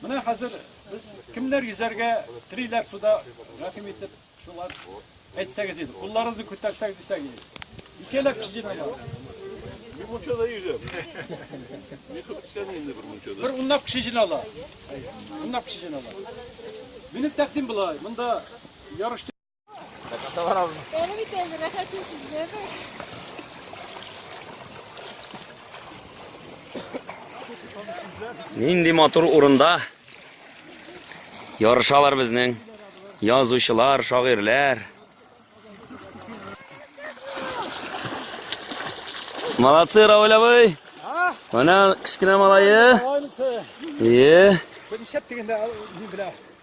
Менә хәзер без кемнәр йөзәргә телиләр суда, рәхим итеп, шулар әйтсәгез иде. Кулларыгызны күтәрсәгез дисәк иде. Ничәләп кеше җыйналган? Бер мунчада йөзәм. Ни кылып эшләми инде бер мунчада? Бер унлап кеше җыйнала. Унлап кеше җыйнала. Минем тәкъдим була, монда ярыш Нинди матур урында ярышалар безнең язучылар, шагыйрьләр. Молодцы, Раулевый! Менә кечкенә малае. Е. Бенчәп дигәндә мин белә.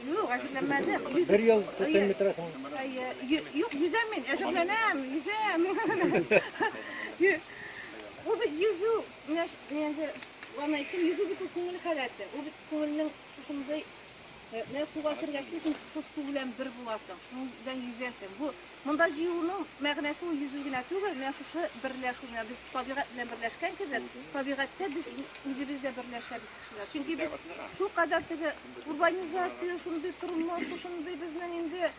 Юк, әзерләнмәдем. Бер ел күптән бетерәсең. Юк, йөзәм мин, әзерләнәм, йөзәм. Ул бит йөзү, менә инде ванна әйттем, йөзү бит ул күңел халәте. Ул бит күңелнең шушындый Менә суга кергәч, син шул су белән бер буласың, шуның белән йөзәсең. Бу Монда җыелуның мәгънәсе ул йөзү генә түгел, менә шушы берләшү, менә без табигать белән берләшкән кебек, табигатьтә без үзебез дә берләшәбез кешеләр. Чөнки без шулкадәр теге урбанизация, шундый тормыш, шушындый безнең инде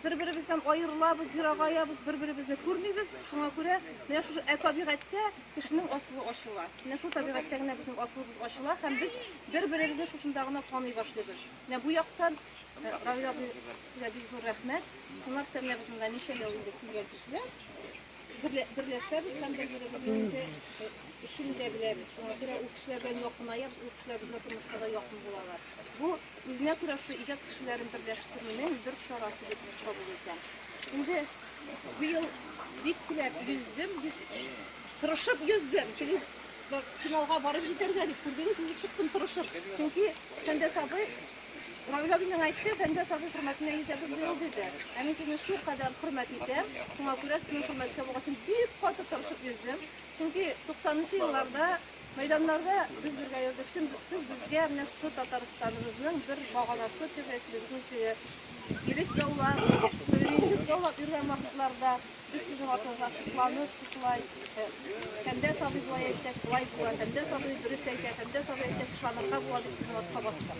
бер-беребездән аерылабыз, ерагаябыз, бер-беребезне күрмибез. Шуңа күрә менә шушы ә табигатьтә кешенең асылы ачыла. Менә шул табигатьтә генә безнең асылыбыз ачыла һәм без бер-беребезне шушында гына таный башлыйбыз. Менә бу яктан Равил абыйга бик зур рәхмәт. Шуңа Тәрнәбезендә ничә ел инде килгән кешеләр. Берләшәбез һәм бер-беребезне эшен дә беләбез. Шуңа күрә ул кешеләр белән якынаябыз, ул кешеләр безгә тормышта да якын булалар. Бу үзенә күрә шул иҗат кешеләрен берләштерүнең бер чарасы дип кабул итәм. Инде быел бик теләп йөздем, бик тырышып йөздем. Чөнки финалга барып җитәргә дип күрдегез, үзе чыктым тырышып. Чөнки Сәндәс абый Равил абыйның әйтте, бәндә сабый хөрмәтенә йөзәбез быел диде. Ә мин сезне шул кадәр хөрмәт итәм, шуңа күрә сезнең хөрмәт табуга өчен бик каты тырышып йөздем. Чөнки 90 нчы елларда мәйданнарда без бергә йөрдек, сез безгә менә шушы Татарстаныбызның бер баганасы дип әйтелгән үзе. Ирек яулап, ирек яулап йөргән вакытларда без сезнең артыгызга сокланып, шулай Фәндә сабый болай әйтсәк, болай була, Фәндә сабый дөрес әйтә, Фәндә сабый әйтсәк, ышанырга була дип сезнең артка бастык.